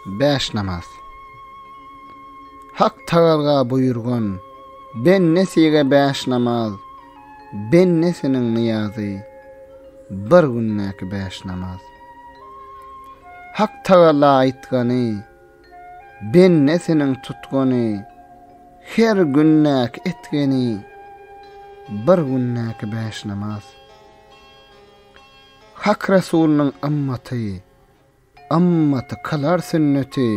Bäş namaz. Hak Tagalga buýurgan bendesige bäş namaz, bendesiniň nyýazy, bir gündäki bäş namaz. Hak Tagala aýtgany, bendesiniň tutgany, her gündäki etgeni, bir gündäki bäş namaz. Hak Resulynyň ymmaty, ymmaty kylar sünneti,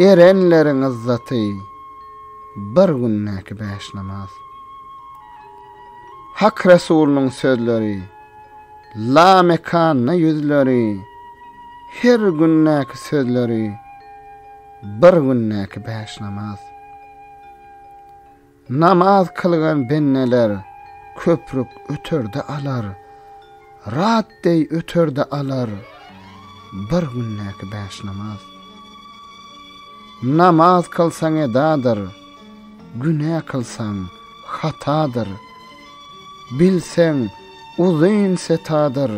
erenleriň yzzaty, bir gündäki bäş namaz. Hak Resulynyň sözleri, lamekanda ýüzleri, her gündäki sözleri, bir gündäki bäş namaz. Namaz kylgan bendeler köprük öter-de alar, Rat deý öter-de alar bir gündäki bäş namaz. Namaz kylsaň edadyr, günä kylsaň hatadyr, Bilseň uzyn setadyr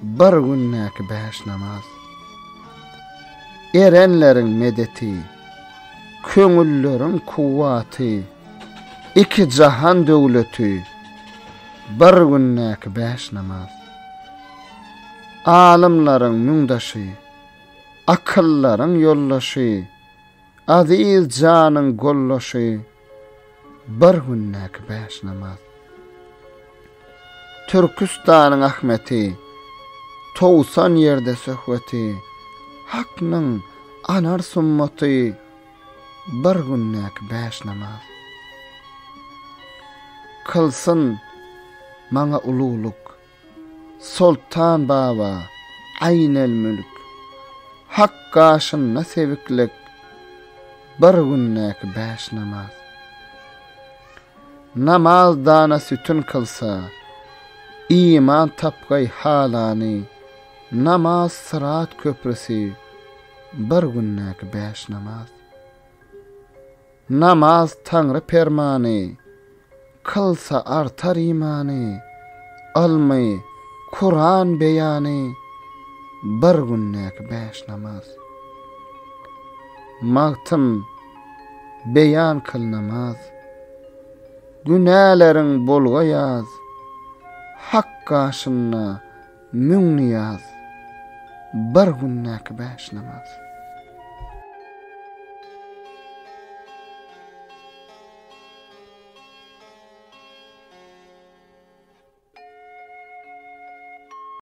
bir gündäki bäş namaz. Erenleriň medeti. Köňülleriň kuwwaty, iki jahan döwleti, bir gündäki bäş namaz. Alymlaryň müňdaşy, akyldaryň ýoldaşy, aziz janyň goldaşy. Bir gündäki bäş namaz. Türküstanyň Ahmeti, Towsan ýerde söhbeti, Haknyň anar summaty, Bir gündäki bäş namaz. Kylsyn maňa ululyk. Soltan baba, Aýnelmülk, Hak gaşynda sebiklik, Bir gündäki bäş namaz. Namaz dana sütün kylsa, Iman tapgaý halany, Namaz syrat köprüsi, Bir gündäki bäş namaz. Namaz Taňry permany, Kylsa artar imany, Ylmy, Kuran beýany, Bir gündäki bäş namaz. Magtym, beýan kyl namaz, Günäleriň bolga ýaz, Hak gaşynda, Müň nyýaz, bir gündäki bäş namaz.